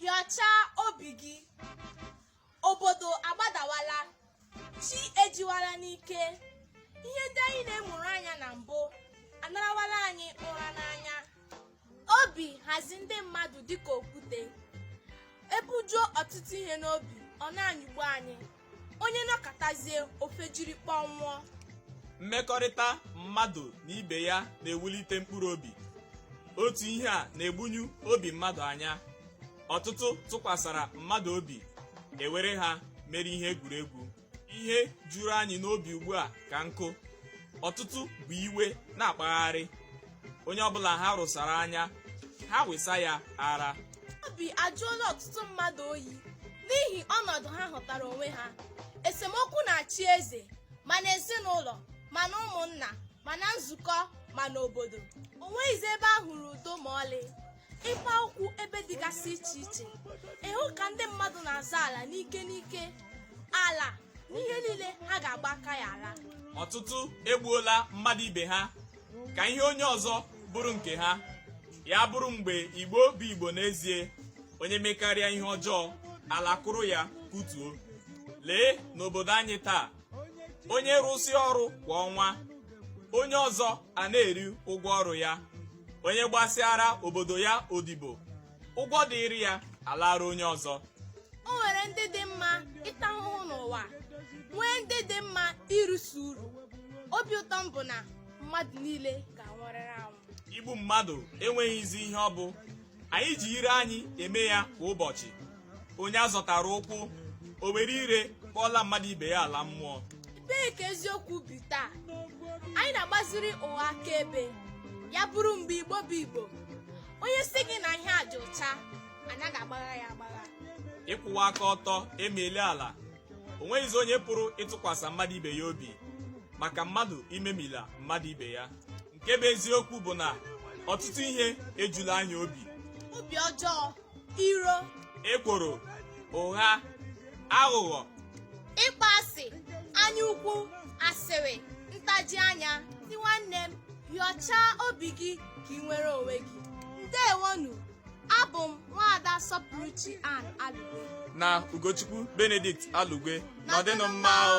hịọchaa obi gị obodo agbadawala chi ejiwala n'ike ihe ndị anyị na-emụrụ anya na mbụ anarawala anyị ụra n'anya obi hazi ndị mmadụ dịka okwute e bujuo ọtụtụ ihe n'obi ọ na-anyịgbu anyị onye nọkatazie o fejiri kpọnwụọ mmekọrịta mmadụ na ibe ya na-ewulite mkpụrụ obi otu ihe a na-egbunyu obi mmadụ anya ọtụtụ tụkwasara mmadụ obi e were ha mere ihe egwuregwu ihe juru anyị n'obi ugbu a ka nkụ ọtụtụ bu iwe na-akpagharị onye ọbụla ha rụsara anya ha wesa ya ara obi ajụọla ọtụtụ mmadụ oyi n'ihi ọnọdụ ha hụtara onwe ha esemokwu na-achị eze ma n'ezinụlọ ma na ụmụnna ma na nzukọ ma n'obodo o nweghịzi ebe a hụrụ udo ma ọlị ị kpa ụkwụ ebe dịgasị iche iche ị hụ ka ndị mmadụ na-azọ ala n'ike n'ike ala na ihe niile ha ga-agba aka ya ala ọtụtụ egbuola mmadụ ibe ha ka ihe onye ọzọ bụrụ nke ha ya bụrụ mgbe igbo bụ igbo n'ezie onye mekarịa ihe ọjọọ ala kụrụ ya kụtuo lee n'obodo anyị taa onye rụsịa ọrụ kwa ọnwa onye ọzọ ana-eri ụgwọ ọrụ ya onye gbasịara obodo ya odibo ụgwọ dịịrị ya alaara onye ọzọ o nwere ndị dị mma ịta ahụhụ n'ụwa nwee ndị dị mma irisi uru obi ụtọ m bụ na mmadụ niile ga-anwụrịrị anwụ igbu mmadụ enweghịzi ihe ọ bụ anyị ji ire anyị eme ya kwa ụbọchị onye a zọtara ụkwụ o were ire kpọọla mmadụ ibe ya ala mmụọ ebee ka eziokwu bi taa anyị na-agbaziri ụgha akaebe ya bụrụ mgbe igbo bụ igbo onye sị gị na ihe a dị ụcha a naghị agbagha ya agbagha ịkwụwa aka ọtọ emiela ala o nweghịzi onye pụrụ ịtụkwasị mmadụ ibe ya obi maka mmadụ imemila mmadụ ibe ya nke bụ eziokwu bụ na ọtụtụ ihe ejula anyị obi obi ọjọọ iro ekworo ụgha aghụghọ ịkpọ asị anya ukwu asịrị ntaji anya ndị nwanne m hịọchaa obi gị ka i nwere onwe gị ndewonu abụ m nwaada sọpụrụchi ann alugwe na ugochukwu benedict alugwe nọdịnụ mma o